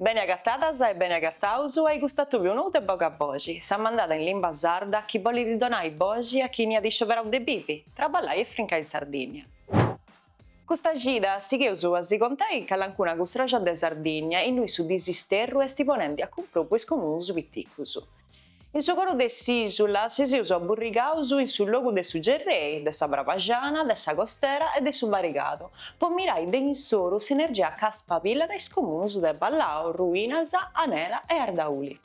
Beni agatadas e beni agataus a-i custu atòbiu nou de Boga Boxi, sa mandada in limba sarda chi bolit donai boxi a chini at iscioberau de bivi, traballai e frincai in Sardinnia. Custa cida sigheus a si contai calancuna custròxa de Sardinnia, innui su disisterru esti ponendi a cumprou po is comunus piticus. In su coro de s'ìsula si seus aburrigaus in su logu de su Gerrei, de sa Brabaxana, de sa Costera e de su Barigadu, po mirai de insoru s'energia ca spabillat is comunus de Ballau, Ruinas, Anela e Ardauli.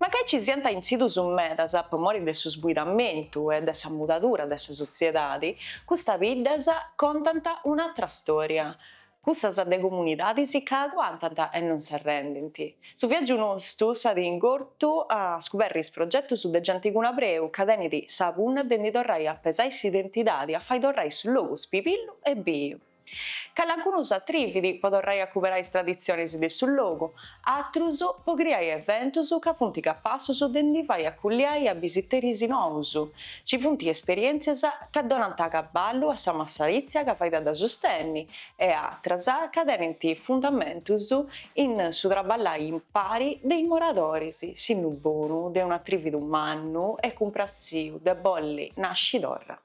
Mancai nci siant intzitus medas po mori de su sbuidamentu e de sa mudadura de sa sotziedadi, custas biddas contant un'atra stòria, Cussas de comunidadis ca aguantant e non s'arrendint. Su viàgiu nostu s'at ingortu a scuberri is progetus de genti cun abreu ca tenit sa punna de ndi torrai a pesai s'identidadi, a fai torrai su logu spibillu e biu. Calancunu s'atrivit po torrai a cuberai is traditzionis de su logu, atrus po criai eventus ca funt capassus de ndi fai acuiliai a bisiteris nous, ci funt esperièntzias ca donant acaballu a sa massaritzia ca fait de sustenni e atras ca tenint fundamentus in su traballai impari de is moradoris, sinnu bonu de un'atrividu mannu e cumpratziu de bolli nasci torra.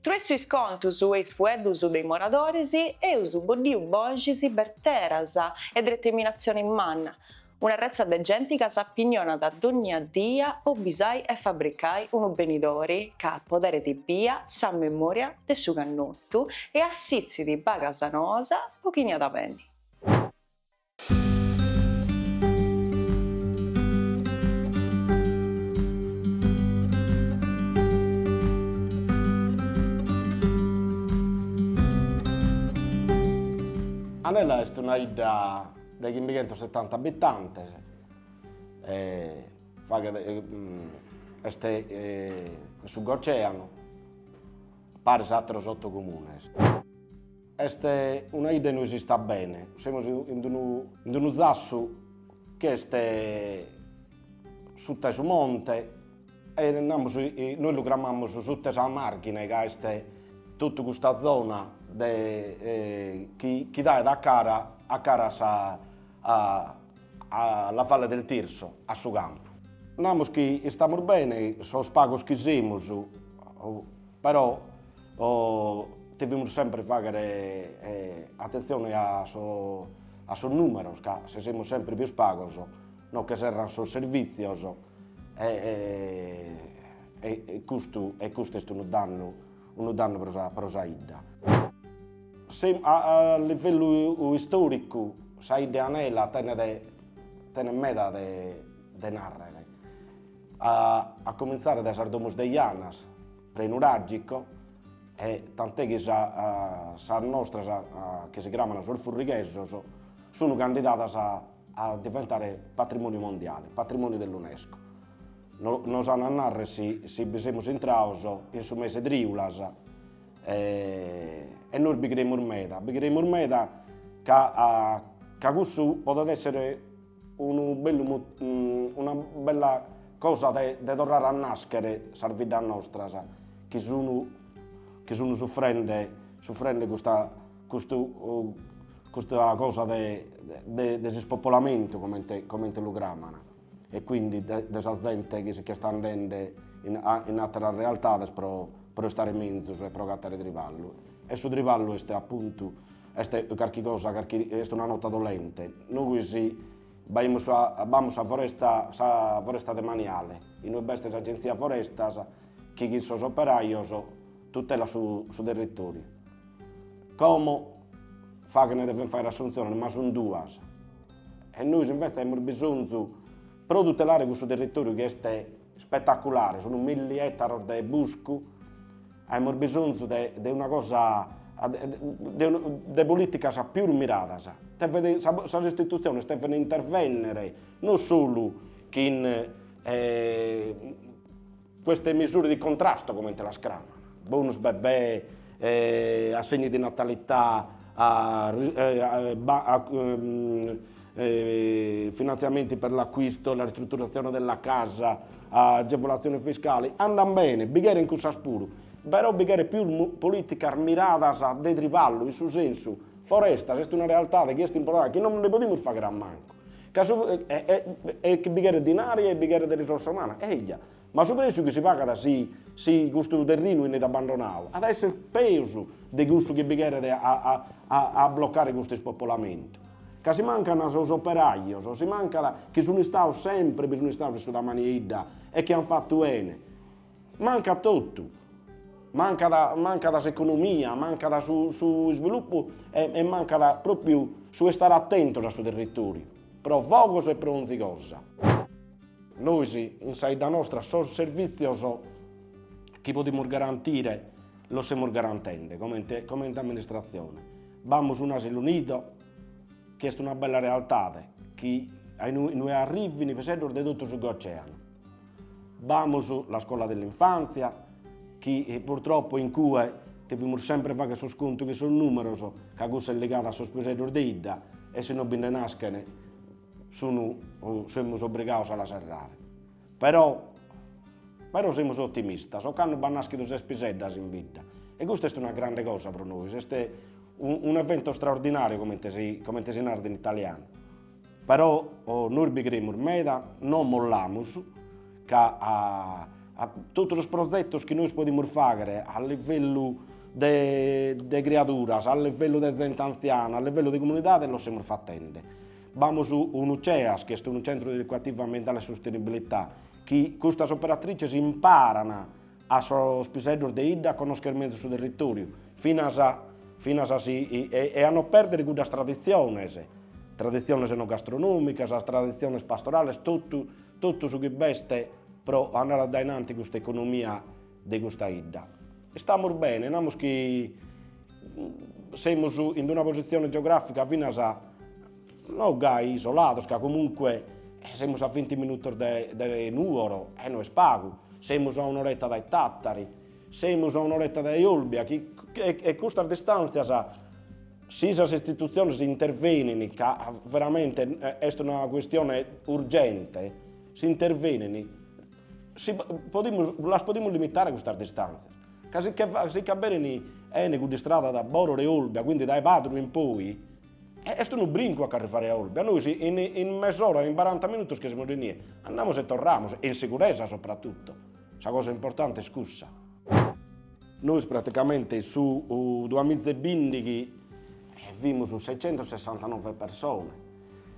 Troessu is contus e is fueddus de is moradoris, eus boddiu boxis berteras e dreteminatzioni manna, una retza de genti ca s'apignonat dònnia dia po bisai e fabricai unu benidori ca apoderit bia sa memòria de su cannotu e assitzit bagas noas po chini at a benni. Anela est una 'idda de chimbighentros setanta abitantes, faghet est in su Gocéanu, paris a àteros oto comunes. Est una 'idda inue si istat bene, semus in d'unu in d'unu zassu chi est suta 'e su monte e namus nois lu cramamus suta 'e sa marghine ca est totu custa zona de chi chi daet a cara a cara a sa a a la Valle del Tirso, a su campu. Namus chi istamus bene sos pagos chi semus Però devimus semper fàghere atentzione a sos nùmeros ca si semus semper pius pagos no che serrant sos servìtzios e custu e custu est unu dannu unu dannu pro sa pro sa 'idda. A livellu istòricu sa 'idda 'e Anela tenet tenet meda de de narrer A accominzare dae sas domus de Janas, prenuragico e tant'è chi sas nostras chi si cramano sos Furrighesos sun candidadas a diventare patrimoniu mondiale, patrimoniu dell'Unesco. Nos an a narrer si bi semus intrados in su mese triulas e nois bi creimus meda, bi creimus meda ca cussu podet essere Unu bellu una bella cosa de de torrare a naschere sas biddas nostras chi sun chi sun suffrende suffrende custa custu custa cosa de de de s'ispopolamentu comente comente lu craman e quindi de de sa zente chi si ch'est andende in a in atteras realtades pro pro istare menzus e pro agattare triballu e su triballu est appuntu Est carchi cosa, carchi, est una nota dolente. Nois b'aimus a, b'amus sa foresta, sa foresta demaniale, inue b'est s'Agenzia Forestas chi chin sos operajos tutelat su su territoriu. Como faghent, devent fagher assuntziones, ma sun duas. E nois invece aimus bisonzu, pro tutelare cussu territoriu chi est Spetaculare, sunt milli ettaros de buscu, aimus bisonzu de de una cosa de de politicas pius miradas, deven sas istitutziones deven intervenner non solu chin queste misure di contrasto comente las craman, bonus bebè, assegni di natalità Finantziamenti per l'acquisto e la ristrutturazione della casa, agevolatziones fiscales, andan bene, bi cheren cussas puru, però bi cheret pius polìticas miradas de triballu, in su sensu, Forestas est una realtade chi est importante, chi non nde podimus fagher a mancu, ca su e e e chi bi cheret dinari e bi cheret risorsa umana, eja, Ma su prèssiu chi si pagat si si custu terrinu 'enit abandonau at a èssere peus de cussu chi bi cheret a blocare custu ispopolamentu. Ca si mancant sos operajos, si mancat chi sun istados semper bi sun istados in su demàniu in 'idda e chi ant fatu 'ene. Mancat totu. Mancat mancat s'economia, mancat su su isvilupu e mancat pròpriu su estare atentos a su territoriu pro fogos e pro 'onzi cosa. Nois in sa 'idda nostra sos servìtzios chi podimus garantire los semus garantende comente comente amministratzione. B'amus un'asilu nido chi est una bella realtade chi a inue arrivin piseddos de totu su Goceanu. B'amus la scola dell'infanzia chi purtroppo in cue devimus sempre fagher sos contos cun sos numeros ca cussa est ligada a sos piseddos de 'idda e si no bi nde naschen Sunu semus obrigados a la serrare. Però però semus otimistas, ocanno b'at nàschidu ses piseddas in bidda e custa est una grande cosa pro nois, est un evento straordinàriu comente si comente si narat in italianu. Però nois bi cremus meda, non mollamus. ca a totu sos prozetos chi nois podimus fàghere a livellu de criaduras, a livellu de zente antziana, a livellu de comunidade los semus fatende. B'amus unu CEAS, chi est unu Centru de Educativo Ambientale e Sostenibilità, chi custas operatrices imparan a sos piseddos de 'idda a connoschere mezus su territòriu, finas finas a si e a no pèrdere cuddas traditziones, traditziones enogastrònomicas, traditziones pastorales, totu Totu su chi b'est pro andare a dae in anti custa economia de custa 'idda. Istamus bene, namus chi semus in una posizione geografica finas, no gai isolados, ca comunque semus a vinti minutos dae Nuoro e no est pagu, semus a un'oretta dae Tattari, semus a un'oretta dae Olbia chi custas distanzias Si sas istitutziones intervenin, ca veramente est una cuestione urgente, si intervenin, si podimus, las podimus limitare custas distàntzias, ca si che si che aberin 'eni cudda istrada dae Borore Olbia, quindi dae Padru in poi, est unu brincu a ch'arrivare a Olbia, nois in in mes'ora, in baranta minutos che semus inie, andamus e torramus, e in siguresa soprattutto Sa cosa importante est cussa. Nois praticamente in su duamiza e bindighi fimus seicentosessantanove persone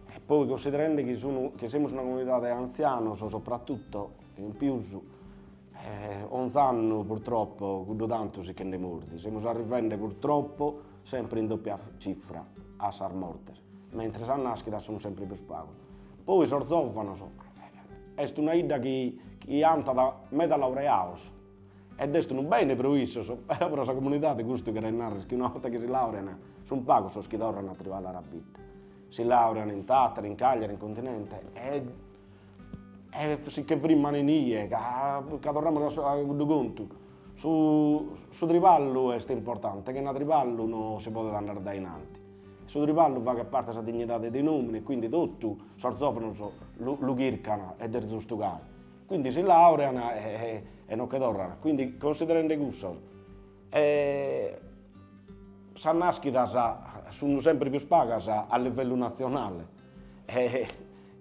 e poi considerende chi sun chi semus una comunidade 'e antzianos soprattutto in pius onz'annu purtroppo cuddu tantu si che nde mordit, semus arrivende purtroppo sempre in doppia cifra a sas mortes. mentres a nàschida sunt sèmpiri prus pagos. Poi sos zòvanos, est una 'idda chi chi at meda laureados, ed est unu bene pro issos, però pro sa comunidade custu cheret narrer chi una 'orta chi si laurean sunt pagos sos chi torran a triballar a bidda, si laurean in Tàtari, in Càgliari, in Continente e e si che frimman inie, ca ca torramus a cuddu contu, su su triballu est importante, chena triballu no si podet andare dae in anti. Su triballu faghet parte 'e sa dignidade de un'òmine e quindi totu sos zòvenos lu chircan e est giustu gai. Quindi si làurean e no che torran. Quindi considerende cussos sas nàschidas sun semper pius pagas a livellu natzionale e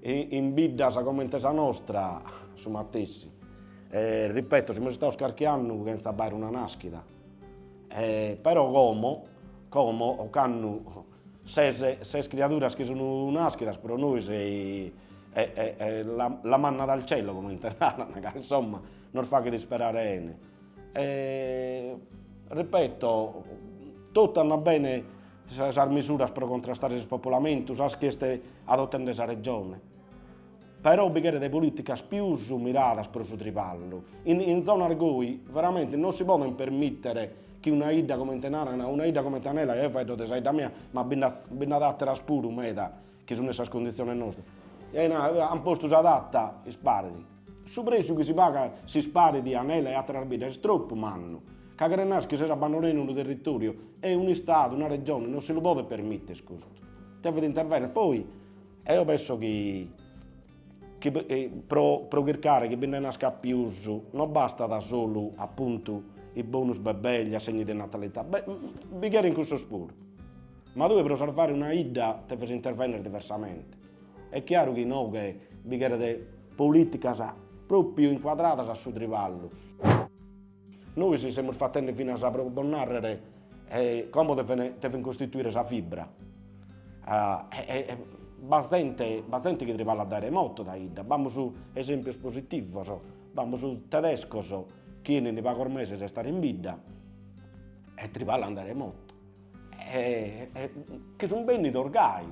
in biddas comente sa nostra su matessi. Ripeto, semus istados carchi annu chentza b'aere una nàschida. Però como, como ocannu ses ses criaduras chi sun naschidas pro nois est la manna dal cielo comente naran ca insomma nos faghet isperare 'ene e ripeto totu andat bene sas misuras pro contrastare s'ispopolamentu sas chi est adottende sa Regione Però bi cheret polìticas pius miradas pro su triballu. In in zonas goi veramente non si podet permìtere chi una 'idda comente naran, una 'idda comente Anela, eo faeddo de sa 'idda mia, ma bi nd'at bi nd'at àteras puru meda chi sun in sas conditziones nostras, ant postu sa data, isparet. Su prèssiu chi si pagat, s'isparet, Anela e àteras biddas est tropu mannu, ca cheret nàrrere chi ses abbandonende unu territòriu e un'Istadu, una Regione non si lu podet permìtere custu, devet intervènnere. Poi Eo pesso chi pro chircare chi bi nde nascat pius no bastat solu appuntu i bonus bebè gli assegni de natalità, bi cherent cussos puru, ma tue pro sarvare una 'idda deves intervennere diversamente, est chiaru chi inoghe bi cheret politicas propriu inquadradas a su triballu. Nois semus fatende finas pro bos narrere como deven costruire sa fibra e b'at zente b'at zente chi triballat dae remoto dae 'idda, b'amus esempios positivos, b'amus tedescos chi 'enint pagos meses a istare in bidda e triballan dae remoto e chi sun bennidos gai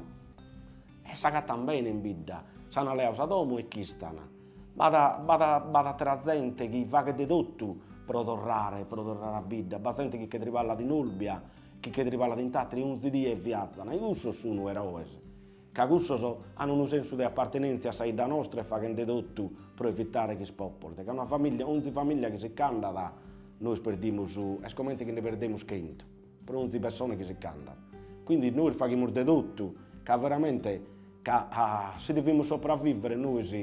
e s'agattan bene in bidda, s'an leadu sa domo e ch'istan B'at, b'at, b'at atera zente chi faghet de totu pro torrare, pro torrare a bidda, b'at zente chi che triballat in Olbia, chi che triballat in Tàteri e onzi die viazan e cussos sun eroes, ca cussos an unu sensu de appartenèntzia a sa 'idda nostra e faghent de totu pro evitare chi s'ispòpolet, ca una famìllia, onzi famìllia chi si ch'andat, nois perdimus, est comente chi nde perdimus chentu. Pro onzi pessone chi si ch'andat. Quindi nois faghimus de totu ca veramente ca si devimus sopravivere nois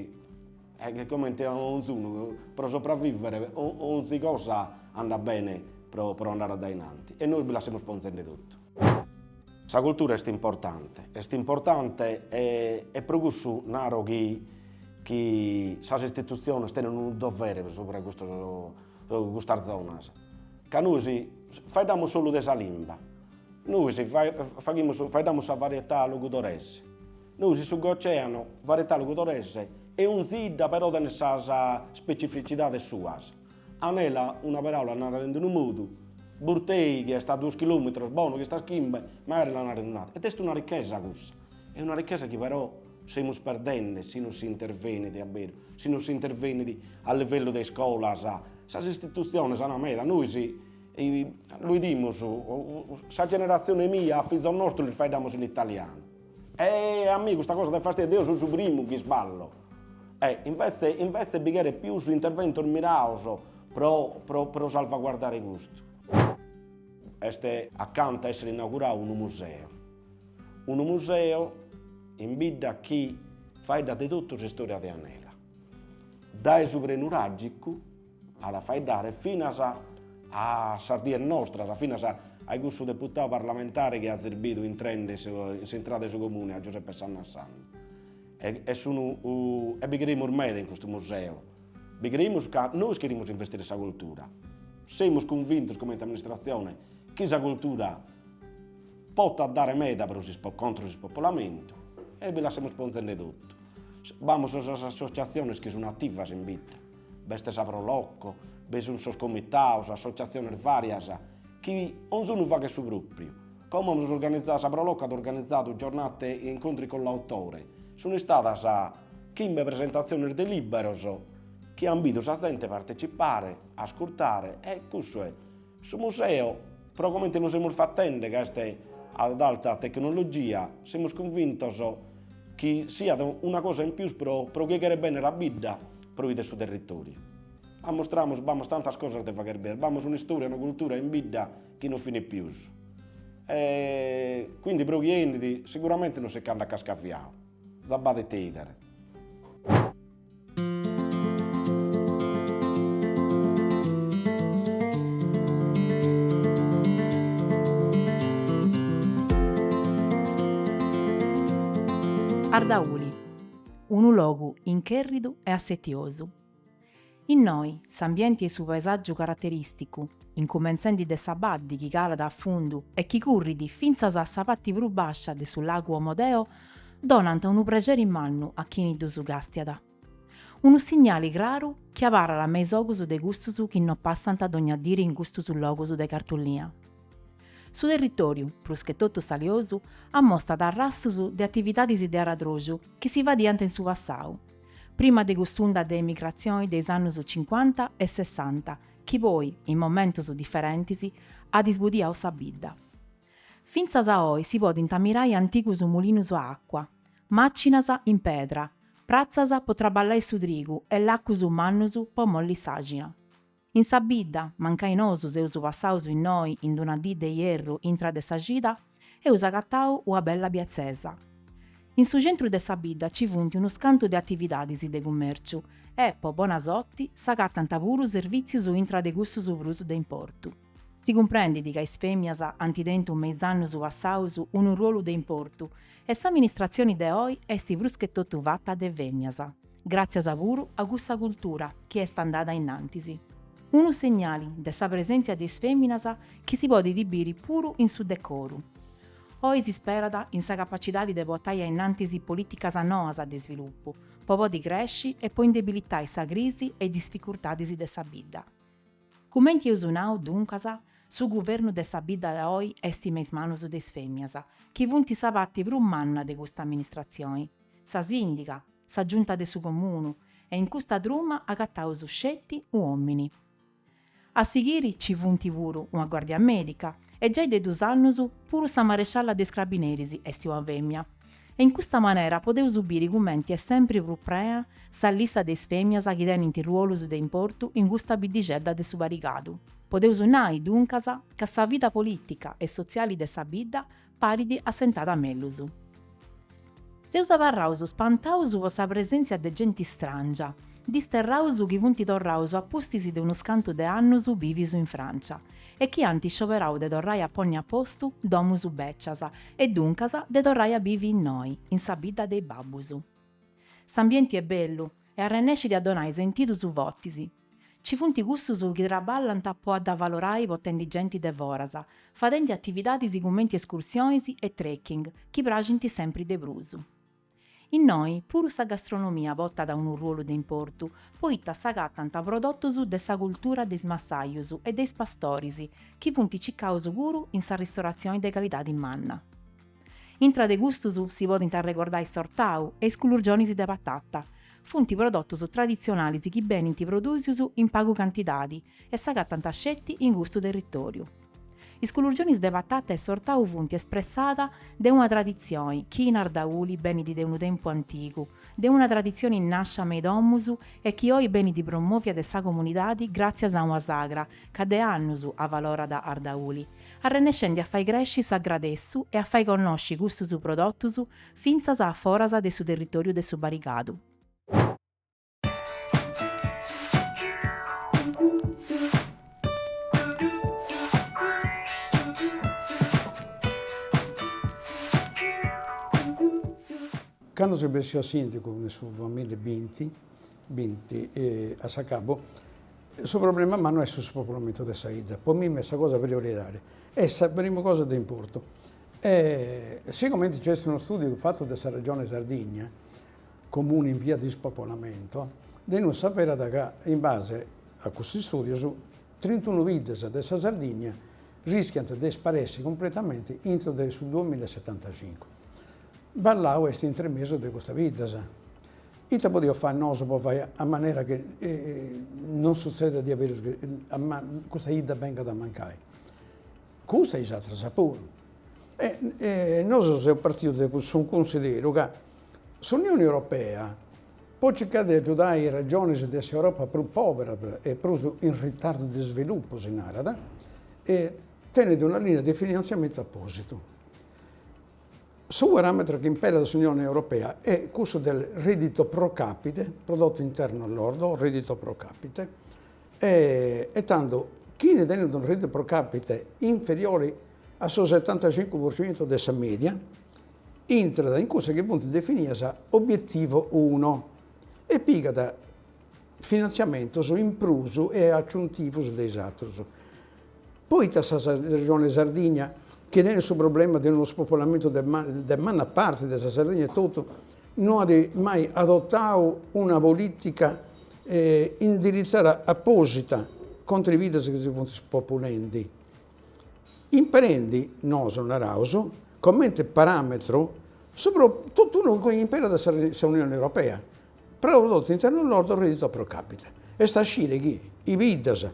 comente a onzunu pro sopravivere onzi cosa andat bene pro pro andare addainanti e nois bi la semus ponzende totu. Sa cultura est importante, est importante e e pro cussu naro chi chi sas istitutziones tenent unu dovere subra custos custas zonas. Ca nois faeddamus solu de sa limba, nois faghimus, faeddamus sa varietà logudorese, nois in su Goceano varietà logudorese e onzi idda però tenet sas specificidades suas, Anela una paraula narat in d'unu modu, Burtei chi est a duos chilometros, Bonu chi est a chimbe magari la narat in un'atera ed est una ricchesa cussa, est una ricchesa chi però semus perdende si non si intervenit a beru, si non si intervenit a livellu de iscolas, Sas istitutziones ana neghe meda, nois lu 'idimus, sa generatzione mia a fizos nostros lis faeddamus in italianu. E a mie custa cosa dat fastidiu, deo so su primu chi isballo. E invece invece bi cheret pius interventos mirados pro pro pro salvaguardare custu. Est acanta essere inauguradu unu museo, unu museo in bidda chi faeddat de totu s'istorìa de Anela. Dae su prenuràgicu at a faeddare finas a sas dies nostras, finas a cussu deputadu parlamentare chi azes bidu intrende in s'intrada 'e su Comune a Giuseppe Sanna Sanna. E e sunu e bi creimus meda in custu museu, bi creimus ca nois cherimus investire in sa cultura. Semus cunvintos comente amministratzione chi sa cultura Potat dare meda pro s'ispo contra s'ispopolamentu e bi la semus ponzende totu. B'amus sas associatziones chi sun ativas in bidda, b'est sa Pro Loco, bi sun sos comitados, associatziones varias chi onzunu faghet su propriu. Como amus organizadu, sa Pro Loco at organizadu giornate di incontri con l'autore, sun istadas chimbe presentatziones de liberos chi an bidu sa zente a partecipare, a ascurtare e cussu est. Su museu, pro comente lu semus fatende ca est ad alta tecnologia, semus cunvintos chi siat una cosa in pius pro pro chie cheret benner a bidda pro bider su territòriu. Amustramus b'amus tantas cosas de fagher bider, b'amus un'istòria, una cultura in bidda chi non finit pius. E quindi pro chie 'enit siguramente non si ch'andat cascaviadu, ja b'at ite 'idere. Ardauli, unu logu inchèrridu e assetiosu. Innoi, s'ambienti e su paesàgiu caraterìsticu, incumentzendi de sa baddi chi calat a fundu e chi currit fintzas a sa parti prus bàscia de su lagu Omodeo donant unu prexeri mannu a chini ddus càstiat, unu signali craru chi abarrat me is ogus de cussus chi no passant dogna diri in custus logus de cartolina. Su territòriu, pruschetotu saliosu, amostat arrastus de atividadis de aradroxu chi si fadiant in su passau, prima de cuss'unda de emigratzioni de is annus cincuanta e sessanta chi poi, in momentus diferentis, at isbudiau sa bidda. Fintzas a oi si podint ammirai antigus mulinus a acua, màcinas in pedra, pratzas po traballai su trigu e lacus mannus po molli s'àina. In sa bidda, mancai nosu seus passaus innoi in d'una dì de ierru intra de sa cida, eus agatau ua bella biatzesa. In su centru de sa bidda ci funt unus cantu de atividadis de cummèrciu e, po bona sorti, s'agatant puru servìtzius intra de cussus prus de importu. Si cumprendit ca is fèmias ant tentu me is annus passaus unu ruolu de importu e s'amministratzioni de oi est pruschetotu fata de fèmias, gràtzias puru a cussa cultura chi est andada in antis. Unu segnali de sa presèntzia de is fèminas chi si podit biri puru in su decoru. Oi si sperat in sa capacidadi de portai a in antis polìticas noas de svilupu po podi cresci e po indebilitai sa crisi e is dificultadis de sa bidda. Cumenti eus nau, duncas, su guvernu de sa bidda de oi est me is manus de is fèmias, chi funt sa parti prus manna de custa amministratzioni, sa sìndiga, sa giunta de su comunu, e in custa truma agataus sceti un'òmini. A sighiri nci funt puru una guàrdia mèdica e giai de dus annus puru sa marescialla de is crabineris est una fèmia, e in custa manera podeus biri cumenti est sempri prus prea sa lista de is fèmias chi tenint ruolus de importu in custa biddixedda de su Barigadu. Podeus nai, duncas, ca sa vida polìtica e sotziali de sa bidda parit assentada mellus. Seus abarraus spantaus po sa presèntzia de genti stràngia, disterraus chi funt torraus a pustis de unus cantu de annus bìvius in Frància, e chi ant iscioberau de torrai a ponni a postu domus bècias e duncas de torrai a bivi innoi, in sa bidda de is babbus. S'ambienti est bellu e arrennescit a donai sentidus fotis. Ci funt cussus chi traballant po a dda valorai potendi genti de foras, fadendi atividadis cumenti escursionis e trekking chi praxint sempri de prus. Innoi puru sa gastronomia potat unu ruolu de importu, poita s'agatant prodotus de sa cultura de is massajus e de is pastoris, chi funt cicaus puru in sa ristoratzioni de calidadi manna. Intra de custus si podint arregordai s'ortau e is culurgionis de patata, funt prodotus traditzionalis chi benint produsius in pagu cantidadi e s'agatant sceti in custu territoriu. Is culurgionis de patata e s'ortau funt s'espressada de una traditzioni chi in Ardauli benit de unu tempu antigu, de una traditzioni nàscia me is domus e chi oi benit promòvia de sa comunidadi gràtzias a una sagra ca de annus avalorat Ardauli, arrennescendi a fai cresci s'agradessu e a fai connosci custus prodotus fintzas a foras de su territòriu de su Barigadu. Cando seu bessiu a sìndigu de su duamilla e binti binti a s'acabu, su problema mannu est su spopolamento de sa 'idda, po mimi est sa cosa prioritària, est sa prima cosa de importu e sigomente nc'est unu studiu fatu de sa Regione Sardigna comuni in via de ispopolamento, de innui s'averat ca, in base a cussus istùdios, trintunu biddas de sa Sardìnnia rischiant de isparessi cumpletamenti intro de su duamilla e setantacincu. Ballau est intre mesu de custas biddas. Ite podiaus fai nosu po fai a manera chi non sutzedat diaderus chi custa 'idda bengat a mancai? Custa e is atras puru. Nosu seus partius de cussu cunsideru ca S'Unioni Europea po circai de agiudai is regionis de s'Europa prus poveras e prus in ritardu de svilupu, si narat, tenit una linea de finantziamentu apositu. Su parametru chi imperat s'Unioni Europea est cussu de reddito pro capite, prodotto interno lordo o reddito pro capite, e tando chini tenit unu reddito pro capite inferiori a su setantacincu pro centu de sa media, intrat in cussas chi funt definidas Obiettivo uno e pigat finantziamentos in prus e aciuntivos de is aterus. Poita sa Regione Sardigna, chi tenit su problema de unu spopolamentu de manna parti de sa Sardigna etotu, no at mai adotau una politica indiritzada aposita contra a is biddas chi si funt spopulendi? Imperendi, nosu naraus, comente paràmetru su totu unu chi imperat sa Unione Europea, prodotto interno lordo reddito pro capite. Est a scire chi is biddas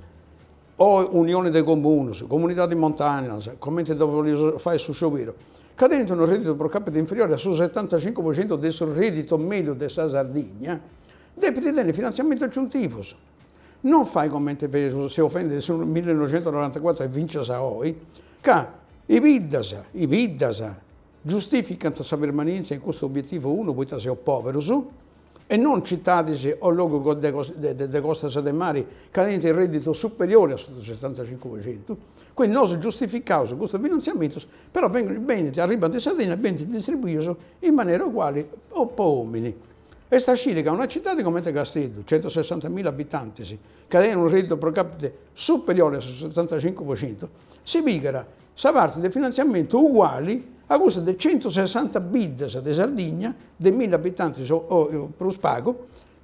o unione de comunos, comunidades montanas, comente ddos bolius fai su scioberu, ca tenint unu reddito pro capite inferiore a su setantacincu pro centu de su reddito mediu de sa Sardigna, depint tenni finantziamentos aciuntivos. Non fai comente seus fendi de su millenoixentonorantacuatru e fincias a oi, ca is biddas, is biddas, giustificant sa permanentzia in custu obietivu unu poita seus poberus, e non citadis o logus de costas de mari ca tenint unu redditu superiori a su de su setantacincu po centu, quindi nosu giustificaus custus finanziamentus, però benint, arribant in Sardinna e benint distribuius in manera uguali po omini. Est a sciri ca una citadi comente Casteddu, centosessantamila abitantis, ca tenit unu rèdditu pro càpite superiori a su setantacincu pro centu, si pigat sa parti de finantziamentu uguali a cussa de centusessanta biddas de Sardigna de milli abitantis o prus pagu,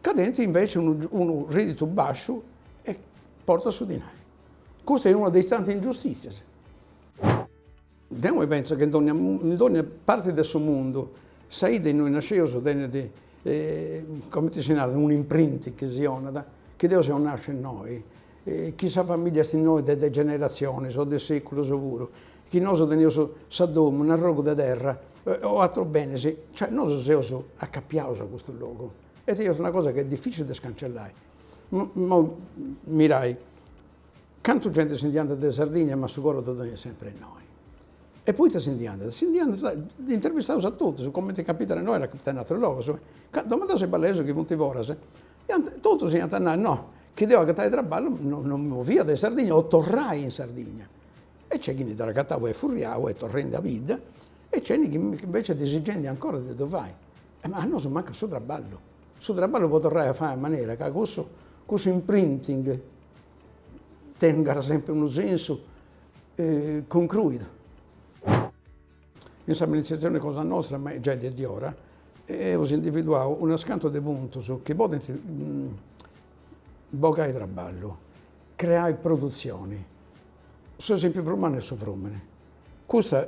ca tenint invece unu rèdditu bàsciu e portat su dinai. Custa est una de is tantis ingiustìtzias. Deo mi pentzo chi in dònnia parte de su mundu sa 'idda innui nasceus tenet, comente si narat, un'imprinting chi si 'onat, chi deo seu nàsciu innoi, chi sa familia est innoi de generatzionis o de seculus puru, chi nosu teneus sa domu, un'arrogu de terra o atrus benis, cioè nosu seus acapiaus a custu logu e est una cosa chi est dificili de scancellai. Mirai Cantu genti si ndi andat dae Sardigna ma su coro ddu teniat sempri innoi. E poita si ndi andat? Si ndi andat, ddus intervistaus a totus, cumenti capitat a innoi at a capitai in aterus logus. Domandaus a is ballaesus chi funt foras, iant, totus iant a nai, no, chi deu agatai traballu no mi movia dae Sardigna o torrai in Sardigna. E nc'est chi ndi dd'at agatau e est furriau e torrendi a bidda e nc'est chi invece est disigendi ancora de ddu fai. Ma a nosu mancat su traballu, su traballu po torrai a fai a manera ca cussu, cussu imprinting tengat semper unu sensu concruidu. In s'amministratzione cosa nostra, ma giai de diora, eus individuadu unus cantu de puntus chi podent bogai traballu, creai produtzioni, s'esempiu prus mannu est su frumini. Custa,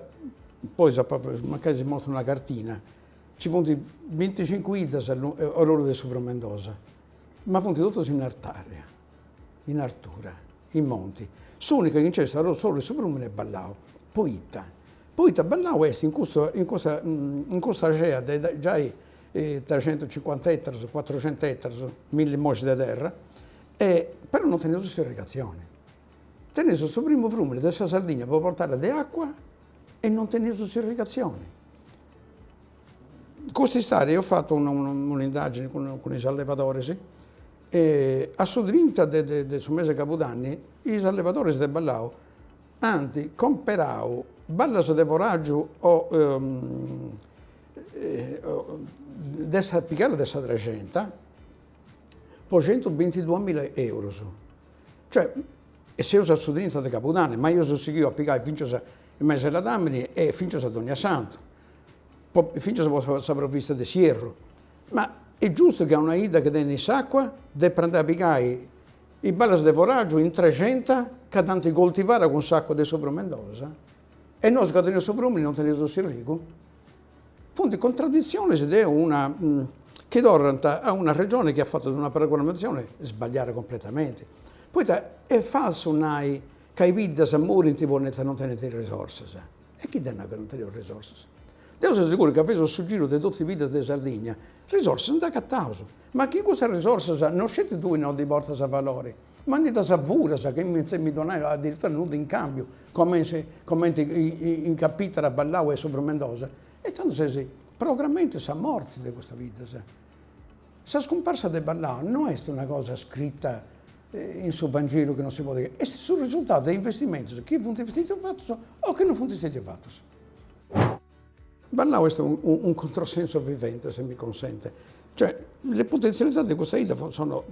poi mancai si mostro una cartina, nci funt binticincu 'iddas or'oru de su Frumendosa ma funt totus in artària, in artura, in monti. S'ùnica chi nc'est a s'oru 'e su frùmini est Ballau, poita poita Ballau est in custu in custa in custa cea de giai trescientus cincuanta ettaros, cuatrucentus ettaros, milli mois de terra e però non teneus s'irrigatzioni. Teneus su primu frùmini de sa Sardigna pro portada de acua e non teneus s'irrigatzioni Cust'istadi eo apu fatu un'indagine cun is allevadoris e a su trinta de su mese de cabudanni is allevadoris de Ballau ant comperau ballas de foràgiu o de sa pigadas de sa Trexenta po centubintiduamilla eurus, cioè e seus a su trinta de cabudanni, ma eus sighiu a pigai fintzas in mesi 'e ladàmini e fintzas a donniasantu fintzas po sa provvista de s'ierru, ma est giustu chi a una 'idda chi tenit s'acua depant a pigai is ballas de foràgiu in Trexenta ca dd'ant coltivada cun s'acua de su Frumendosa e nosu ca teneus su frumini non teneus su s'irrigu? Funt contraditzionis de una chi torrant a una Regioni chi at fatu una programmatzioni sbagliada compretamenti, poita est falsu nai ca is biddas morint poita non tenint is risorsas E chi dd'at nau ca non teniaus risorsas? Deu seu seguru ca faeus su giru de totu is biddas de Sardigna, risorsas nd'agataus, ma chi cussas risorsas no sceti tui no ddas portas a valori, ma ndi ddas furas chentza mi donai adiritura nudda in cambiu, comenti comenti est capitara a Ballau 'e su Frumendosa, e tandu ses programmendi sa morti de custas biddas. Sa scumparsa de Ballao no est una cosa scrita in su Vangelu chi non si podet, est su risultadu de investimentos chi funt stetius fatos o chi non funt stetius fatos. Ballao est un controsenso vivente, se mi consente, cioè le potenzialità de custa 'idda sono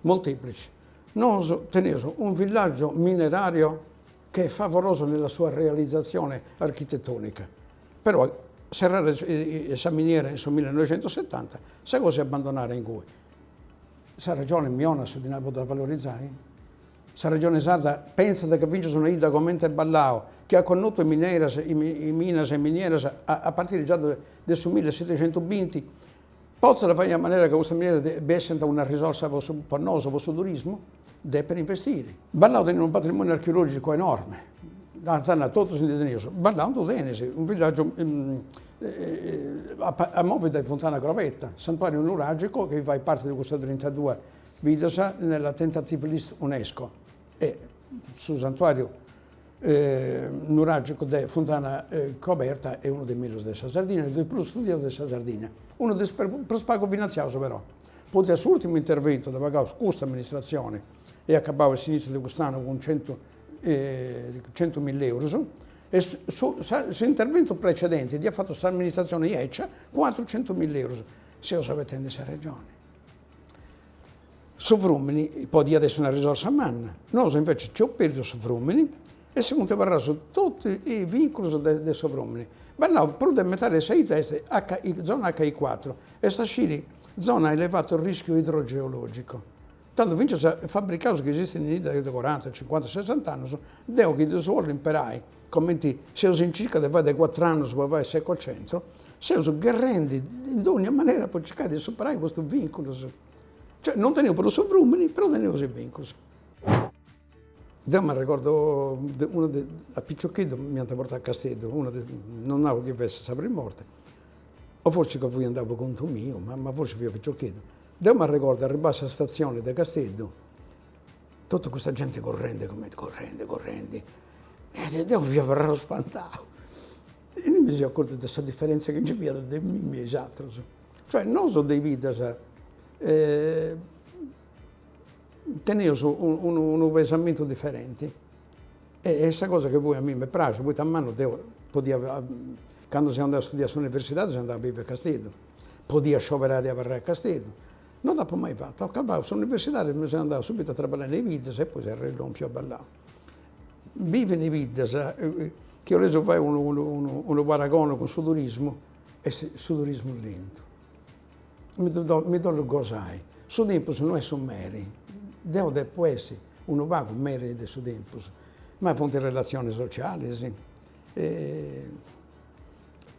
molteplici. Nosu teneus un villaggio minerario che è favoloso nella sua realizzazione architettonica, però serrada sa miniera in su millenoixentosetanta sa cosa est abbandonada ingùe. Sa Regione mi 'onat su dinai po dda valorizzai? Sa Regione Sarda pentzat ca fintzas una 'idda comente Ballao, chi at connotu mineras, minas e minieras a partiri già de su millesetexentubinti, Potzat fai in manera ca custas mineras bessant una risorsa po su po nosu, po su turismu, depet investiri. Ballau tenit unu patrimoniu archeologicu enorme, ant a nai, totus ndi teneus, Ballau ddu tenit, unu villagiu a movi dae Funtana Crobetta, santuariu nuragicu chi fait parti de custas trintadue biddas nella tentative list UNESCO e su santuariu nuragicu de Funtana Coberta est unu de is mellus de sa Sardinna, e de is prus studiaus de sa Sardinna, unu de is prus pagu finantziaus però, poita s'ùrtimu interventu dd'at pagau custa amministratzioni est acabau a s'iniziu de cust'annu cun centu centu milla eurus, e su s'interventu precedenti dd'iat fatu s'amministratzioni 'ecia cun atrus centu milla eurus. Seus abetendi sa Regioni. Su frùmini podiat essi una risorsa manna, nosu invece nci eus pèrdiu su frùmini e si funt abarraus totu is vinculus de su frùmini. Ballau, prus de metadi de sa 'idda est zona acca i cuatru, est a sciri zona a elevatu rischiu idrogeologicu. Tando fintzas fabricaus chi esistint in idda de coranta, cincuanta, sessant'annus, deu chi ddus bollu imperai Comenti seus in circa de fai de cuatru annus po fai s'ecocentru, seus gherrendi in dogna manera po circai de superai custus vinculus. Cioè, non teneus prus su frumini, però teneus is vinculus. Deu m'arregordu una dì, a piccioccheddu m'iant portau a Casteddu, una dì, non nau chi fessit sa prim'orta, o forsis ca fui andau po contu miu, ma forsis fia piccioccheddu. Deu m'arregordu arribau a sa statzioni de Casteddu Totu custa genti currendi cumenti, currendi, currendi, e deu mi fia abarrau spantau. E mi seu acortu de sa diferentzia chi nci fiat de mimmi e is atrus. Cioè nosu de biddas teneus unu pensamentu diferenti e est sa cosa chi poi a mei m'est praxia, poita a mannu deu podia, candu seu andau a studiai a s'universidadi seu andau a bivi a Casteddu, podia scioberai de abarrai a Casteddu No dd'apo mai fatu. Acabau s'universidadi mi seu andau subitu a traballai in is biddas e poi seu arrellòmpiu a Ballau. Bivi in is biddas, chi 'olessi fai unu paragoni cun su turismu, est su turismu lentu. Mi dd'ollu gosai, su tempus no est su meri, deu depu essi unu pagu meri de su tempus, ma funt relatzionis socialis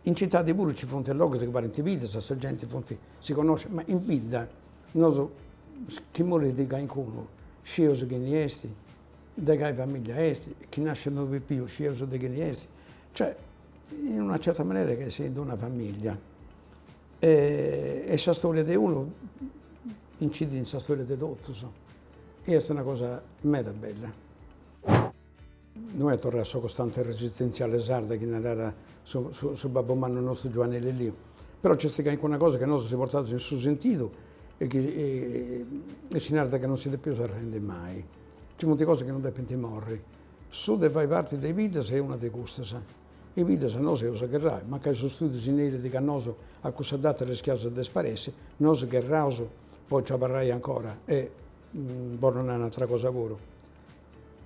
In citadi puru ci funt logus chi parint biddas e sa genti funt, si connoscit, ma in bidda nosu chi morit calincunu scius chini est, de cali famiglia est, chi nascit unu pipiu scius de chini est, cioè in una certa manera che sighint una famiglia e sa storia de unu incidit in sa storia de totus e est una cosa meda bella No est torra sa costante resistentziale sarda chi narat su babbu mannu nostru Giuanni Lilliu, però nc'est calincuna cosa chi nosu si portaus in su sentidu e chi si narat chi non si depeus arrendi mai. Nci funt cosas chi non depint morri. Su de fai parti de biddas est una de custas. In biddas nosu eus a gherrai, mancai su studiu si nerit chi a nosu a cussa data rischiaus a disparessi, nosu gherraus po nci abarrai ancora e, bollu nai un'atra cosa puru,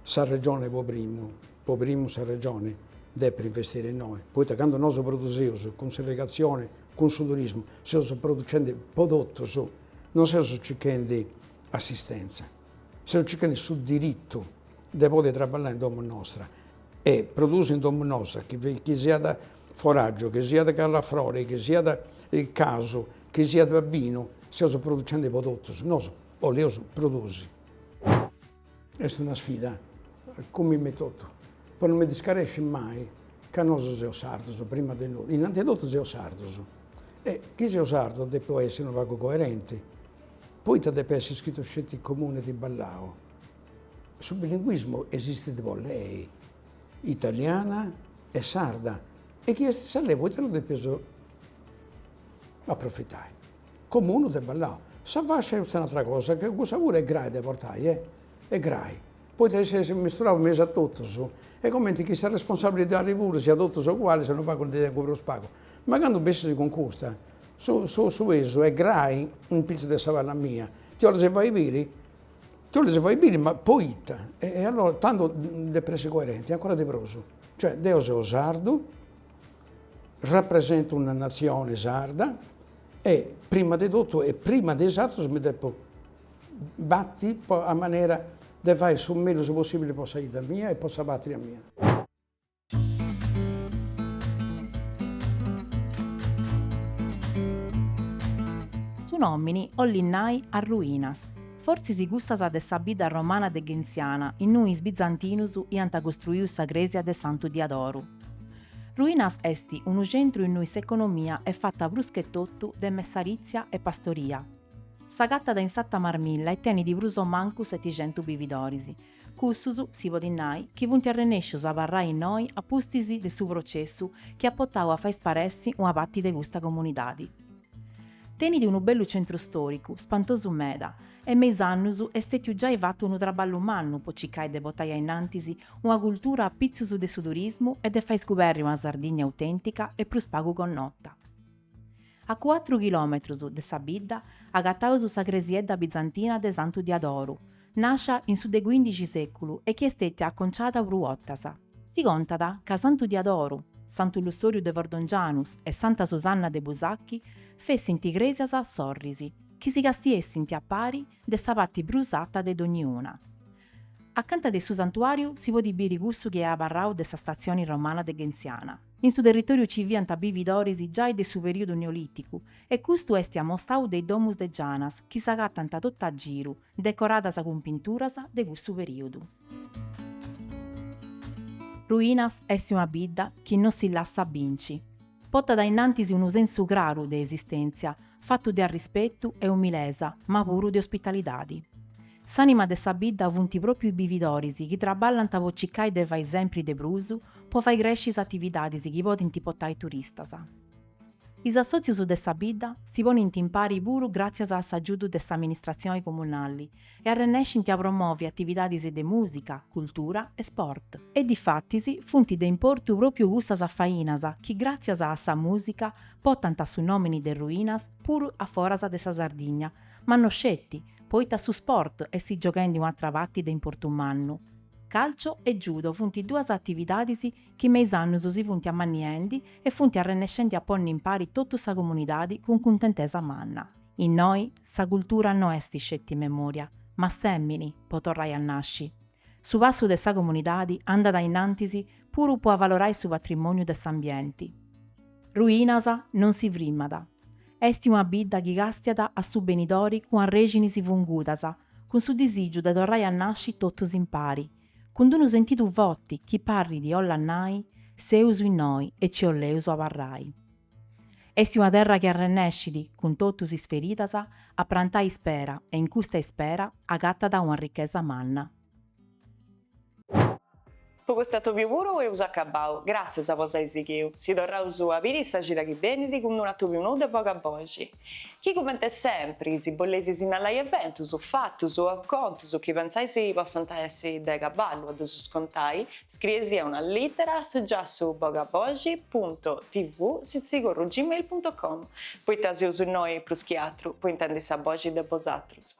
Sa Regione po primu, po primu sa Regione depit investiri innoi, poita candu nosu produsius cun s'irrigatzioni, cun su turismu, seus producendi po totus, non seus circhendi assistenza, seus circhendi su diritu de podi traballai in domu nostra e produsi in domu nosta, chi chi siat foragiu, chi siat callafrori, chi siat casu, chi siat binu, seus producendi po totus, nosu 'olius produsi Est una sfida, cun mimi etotu, po no mi discaresci mai ca nosu seus sardus, prima de no, innanti 'e totu seus sardus e chi seu sardu depu essi unu pagu coerenti, poita depit essi scritu sceti Comune di Ballao, su bilinguismu esistit po lei, italiana e sarda e chi est sa lei poita no depius approfitai. Comunu de Ballau. Sa fascia est un'atra cosa ca cussa puru est grai de portai, e est grai, poita ses misturau in mesu a totus, est comenti chi sa responsabilidadi puru siat totus oguali, seus unu pagu ndi tengu prus pagu. Ma candu bessis cun custa, su su su pesu est grai in pitzus de sa palla mia, ti 'ollis fai biri, ti 'ollis fai biri, ma poita, e allora tando depu essi coerenti, ancora de prus. Cioè deu seu sardu, Rapresentu una natzione sarda e prima de totu e prima de is atrus mi depu bati po a manera de fai su mellus possibili po sa 'idda mia e po sa patria mia. Su nomini 'ollit nai Arruinas, fortzis cussas de sa bidda romana de Gentziana innui is bizantinus iant costruiu sa cresia de Santu Diadoru. Ruinas est unu centru innui s'economia est fata pruschetotu de messarìtzia e pastoria. S'agatat in s'Ata Marmilla e tenit prus o mancu seticentu bividoris, cussus, si podit nai, chi funt arrenèscius a abarrai innoi a pustis de su processu chi at potau a fai sparessi una pati de custa comunidadi. Tenit unu bellu centru stòricu, spantosu meda, e me is annus est stètiu giai fatu unu traballu mannu po cicai de potai ainnantis una cultura a pitzus de su turismu e de fai scubèrri una Sardigna autèntica e prus pagu connota. A cuatru chilòmetrus de sa bidda agataus sa cresiedda bizantina de Santu Diadoru, Nàscia in su de cuindixi sèculu e chi est stètia aconciada prus 'otas. Si contat ca Santu Diadoru, Santu Lussòriu de Fordongianus e Santa Susanna de Busachi fessint crèsias sorris chi si castiessint a pari de sa parti prus ata de dogniuna. Acanta de su santuàriu si podit biri cussu chi est abarrau de sa statzioni romana de Gentziana. In su territòriu ci fiant bividoris giai de su perìodu neolìticu e custu est amostau de is domus de gianas chi s'agatant totu a giru, decoradas cun pinturas de cussu perìodu. Ruinas est una bidda chi non si lassat binci. Potat a innantis unu sensu craru de esistèntzia, fatu de arrispetu e umilesa, ma puru de ospitalidadi. S'ànima de sa bidda funt pròpiu is bividoris chi traballant po cicai de fai sempri de prus po fai cresci is atividadis chi podint potai turistas. Is assòtzius de sa bidda si ponint in pari puru gràtzias a s'agiudu de s'amministratzioni comunali e arrennescint a promòvi atividadis de mùsica, cultura e sport. E difatis funt de importu pròpiu cussas afainas chi gràtzias a sa mùsica potant su nòmini de Ruinas puru a foras de sa Sardigna, ma no sceti, poita su sport est gioghendi un'atra parti de importu mannu. Calcio e judo funt duas atividadis chi me is annus si funt ammanniendi e funt arrennescendi a ponni impari totu sa comunidadi cun cuntentesa manna. Innoi sa cultura no est sceti memòria, ma sèmini po torrai a nasci. Su passu de sa comunidadi andat ainnantis puru po avalorai su patrimòniu de s'ambienti. Ruinas non si frimat. Esti una bidda chi càstiat a su benidori cun arrèxinis fungudas, cun su disìgiu de torrai a nasci totus impari, Cun d'unu sentidu foti chi parrit 'ollat nai, Seus innoi e ci 'oleus abarrai. Est una terra chi arrennescit, cun totus is feridas, a prantai ispera e in custa ispera agatat una richesa manna. Po cust'atòbiu puru eus acabau, gràtzias po s'ai sighiu, si torraus a biri sa cida chi benit cun d'un'atòbiu nou de Bogaboxi. Chi comente sempri, si boleis sinnalai eventus, fatus o acontus chi pentzais possant essi de cabali a ddus contai, scriei-sì una lìtera a su giassu bogaboxi punto tv sitzigorru gmail punto com, poita seus innoi prus chi atru po intendi sa boxi de bosatrus.